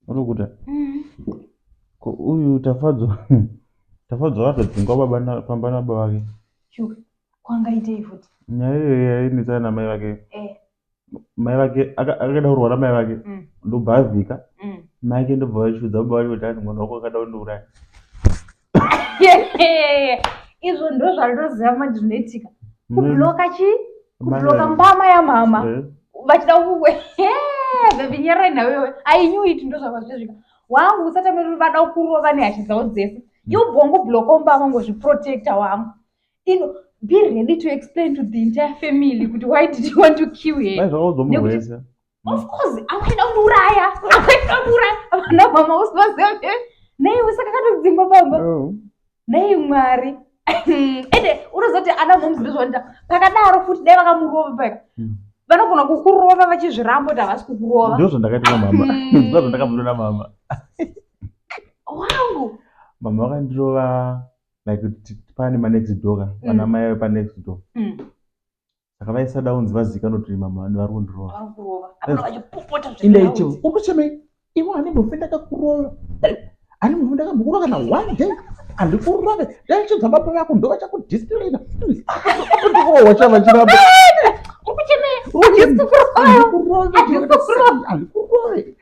unokuda mm. ko uyu tafadzwa tafadzwa vatodzingwa baba pamba nababa vake shuka kwangaitei futi nyaya iyoyo yainetsana namai vake eh. mai vake akaenda kurwara mai vake mm. ndobva avhika mm. mai ake ndobva vachiudza baba vake kuti ani mwana wako akada kundiuraya izvo ndo zvandinoziva manje zvinoitika mm. kubloka chi kubloka mbama yamama eh. vachida kuwe vevinyara inawewe ainyuiti ndo zvava zvezvika wangu usatamiri vada kurova nehasha dzavo dzese mm. yo bhongo bloka umbama ngozviprotecta wangu ino be ready to explain to the entire family kuti why did you want to kill her Of mm. course, amwene unuraya, amwene unuraya, vana mama usivaziva kuti nei usaka katodzingwa baba. Oh. Nei Mwari. Ende unozoti ana moms ndozvaita. Pakadaro futi dai vakamurova paka. Mm. Vanogona kukurova vachizvirambo kuti havasi kukurova. Ndozvo ndakaita na mama. Mm. Ndozvo ndakabuda na mama. Wangu. Mama vakandirova like pane ma next door ka. Vana mai pa next door. saka vaisada unzi vazivikanwa kuti mama vane vari kundirova indaiti ukuchemei ivo ane mufi ndakakurova ani mufi ndakamukurova kana one day andikurove ndaichidza baba vako ndo vachakudistilina kundirova chava chiramba andikurove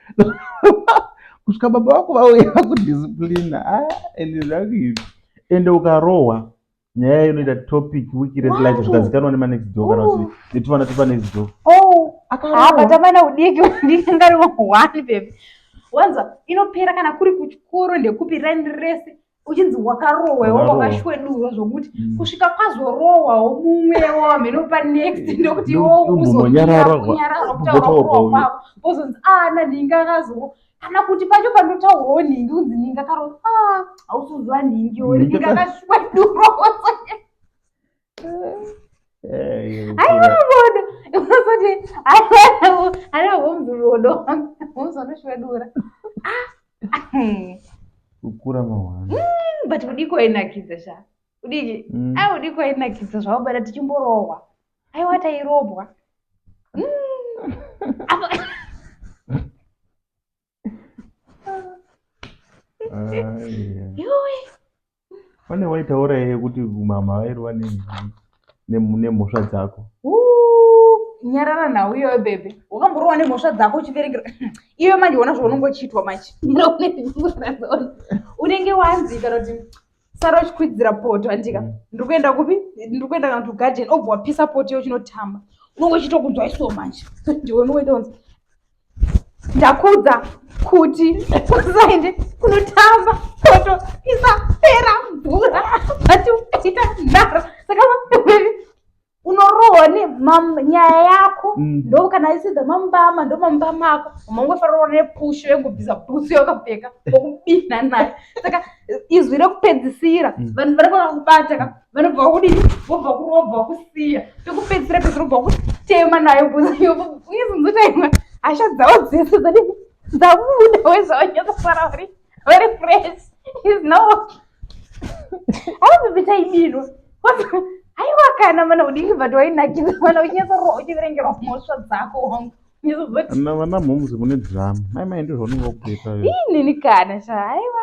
kusvika baba vako vauya kudisciplina ah, ende zvakuivi ende ukarohwa nyaya yayo inoita topic wiki rese like zvikazikanwa nemanext door kana kuti netuvana tupanext door oh, akaaabatamana ah, udiki ndisingari one baby wanza inopera kana kuri kuchikoro ndekupi rani rese uchinzi wakarohwewo wakashwedurwa zvokuti mm. kusvika kwazorohwawo mumwewo hameno panext ndokuti iwo uzonyararwa kutaura kurohwa kwavo ozonzi ana ah, ndinga akazowo kana kuti pacho pandotaurwawo nhingi unzi nhingi akaro ah, hausuzuva nhingi oinhingi akashuwa durosa aivavona unozoti anavomzuvodo vomzanoshwedura kukura mawana mm, but kudiko ainakidza sha kudiki mm. a ah, kudiko ainakidza zvaubada tichimborohwa aiwa tairobwa pane waitaura iye kuti mama vairova nemhosva dzako nyarara nhau iyoyo bebe wakamborova nemhosva dzako uchiverengera iwe manje ona zvaunongochiitwa manje unenge wanzi kana kuti sara uchikwidzira poto andika mm. ndiri kuenda kupi ndiri kuenda kana to garden obva wapisa poto iyo chinotamba unenge uchitokunzwa iso manje ndiwe unokuita kunzi ndakudza kuti usaende kunotamba poto isapera mvura vati ukaita nharo saka unorohwa ne nyaya yako mm. ndo kana aisiza mambama ndo mambama ako mangofarorwa nepusho yekubvisa bhutsu yakapfeka okubina naye saka izwi rekupedzisira mm. vanhu vari kuda kubata ka vanobva kudii vobva kurobva kusiya pekupedzisira pese robva kutema nayo bhutsu yoizinzotaimwa hasha dzavo dzese dzadi dzabuda wezvavanyatosara vari very fresh is not okay aubibita ibirwa aiwa kana mana udiki but wainakidza mana uchinyatsorwa uchiverengerwa mhosva dzako wangu vana mhomzi mune drama mai mai ndizvo unenge wakutoita inini kana sha aiwa